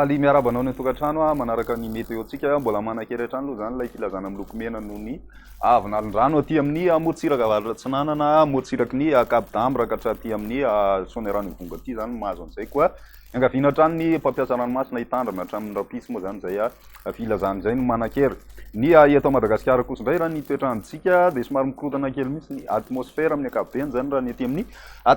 Faly miarahaba anao any an-tokantrano aho manaraka ny météo-tsika. Mbola manan-kery hatrany aloha izany ilay filazana miloko mena noho ny avin'alin-drano aty amin'ny morontsiraka avaratra atsinanana, morontsiraky ny Cap d'Am mirakatra aty amin'ny Soanierano Ivongo aty izany no mahazo an'izay. Koa iangaviana hatrany ny mpampiasa ranomasina hitandrina hatramin'ny rahampitso moa izany izay. filazana izay no manan-kery. Ny ahy eto Madagasikara kosa indray raha ny toetr'androntsika dia somary mikorontana kely mihitsy ny atmosfera amin'ny ankapobeny izany raha ny ety amin'ny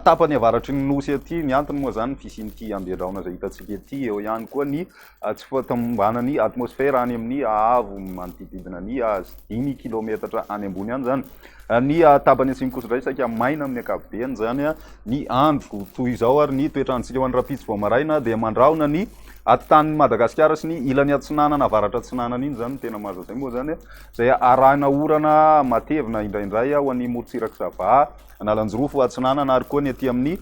tapany avaratry ny nosy ety. Ny antony moa izany ny fisian'ity andedraona izay hitantsika ity, eo ihany koa ny tsy fahatomombanan'ny atmosfera any amin'ny haavo manodididina ny azy, dimy kilaometatra any ambony any izany. Ny tabany atsimo kosa indray saika maina amin'ny ankapobeny, izany ny andro toy izao ary ny toetrantsika ho an'ny rahampitso vao maraina dia mandrahona ny atitaniny Madagasikara sy ny ilany atsinanana avaratra atsinanana iny izany no tena maza izay moa izany izay arahina orana matevina indraindray ho an'ny morontsiraka Sava, Analanjirofo atsinanana ary koa ny aty amin'ny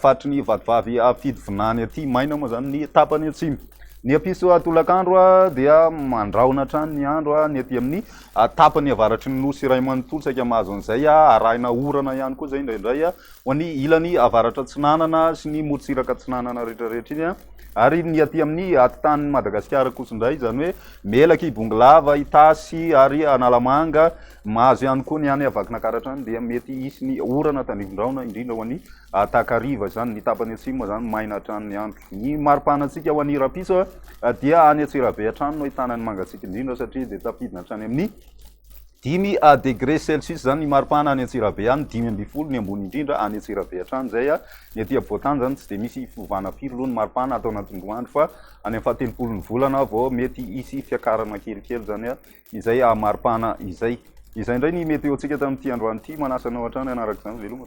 faritry ny vatovavy fidy vinany aty, maina moa izany ny tapany atsimo. Ny hampisy tolakandro dia mandrahona hatrany ny andro ny aty amin'ny tapany avaratry ny Nosy iray manontolo saika mahazo an'izay, arahina orana ihany koa izay indraindray ho an'ny ilany avaratra atsinanana sy ny morotsiraka atsinanana rehetrarehetra iny, ary ny aty amin'ny atitan'i Madagasikara kosa indray, izany hoe Melaky, Bongolava, Itasy ary Analamanga, mahazo ihany koa ny any Vakinankaratra any dia mety hisy ny orana tandrifin-drahona indrindra ho an'ny. A takariva izany, ny tapany atsimo moa izany maina hatrany ny andro. Ny mari-panantsika ho an'i Rapiso dia any Antsirabe hatrany no ahitana ny mangatsiaka indrindra satria dia tafidina hatrany amin'ny dimy degré celsius izany ny mari-pana any Antsirabe any, dimy ambin'ny folo ny ambony indrindra any Antsirabe hatrany izay. Ny aty afovoan-tany izany tsy dia misy fiovana firy loha ny mari-pana ato anatin'ny roa andro fa any amin'ny fahatelopolon'ny volana vao mety hisy fiakarana kelikely izany izay mari-pana izay. Izay indray ny météo-ntsika tamin'ity androany ity, manasa anao hatrany hanaraka izany veloma.